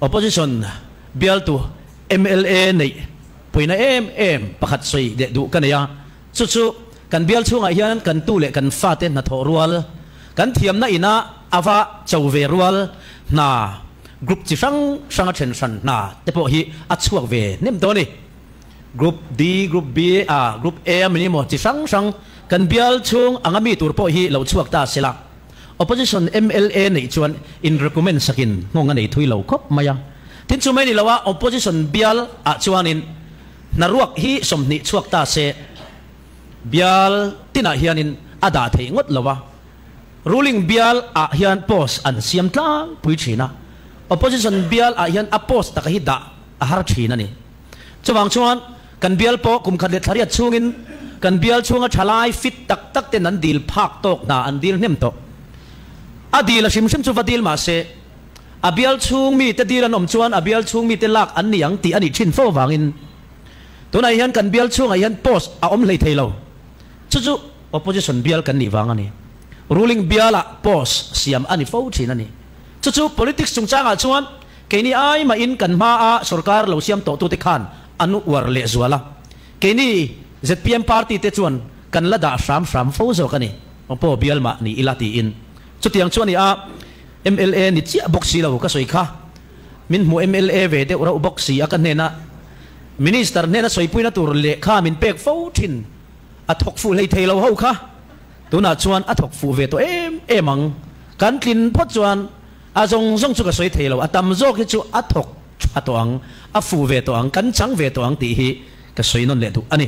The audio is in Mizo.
Opposition bialtu mla neih puina em em pakhat sawi leh duh ka nei a, chu chu kan bial chhungah hian kan tu leh kan fate hnathawh rual, kan thiamna ina ava cho ve rual hna group chi hrang hranga then hran hna te pawh hi a chhuak ve hnem tawh a ni. Group D, Group B, ah Group A a mi ni maw chi hrang hrang kan bial chhung anga mi tur pawh hi lo chhuak ta sela. Opposition mla neih chuan in recommend sakin nghawng a nei thui lo khawp mai a. Tin chu mai ni lo a, Opposition bial ah chuanin hna ruak hi sawmhnih chhuak ta se bial tinah hianin a dah theih ngawt lo a. Ruling bial ah hian post an siam tlangpui thin a, Opposition bial ah hian a post taka hi dah a har thin a ni. Chuvang chuan kan bial pawh kum khat leh thla riat chhungin kan bial chhunga thalai fit tak tak ten an dil phak tawk hna, an dil hnem tawh. A dil a hrim hrim chu va dil mah se, a bial chhung mite dil an awm chuan a bial chhung mite lak an ni ang tih a nih thin fo vangin tunah hian kan bial chhungah hian post a awm hlei thei lo. Chu chu opposition bial kan nih vang a ni. Ruling bialah post siam a ni fo thin a ni. Chu chu politics chungchangah chuan Kei ni ai mahin kan hma a sorkar lo siam tawh tute khan an uar leh zual a, kei ni zpm party te chuan kan la dah hram hram fo zawk a ni, paw bial mah ni ila tiin chutiang chu a ni a, mla ni chiah bawk si lo ka sawi kha, min hmu mla ve deuh reuh bawk si a ka hnena minister hnena sawipuina tur leh kha min pek fo thin a thawk fuh hlei thei lo ho kha, tunah chuan a thawk fuh ve tawh em em ang kan tlin phawt chuan. A zawng zawng chu ka sawi thei lo, a tam zawk hi chu a thawk tha tawh ang, a fuh ve tawh ang, kan chang ve tawh ang tih hi ka sawi nawn leh duh a ni.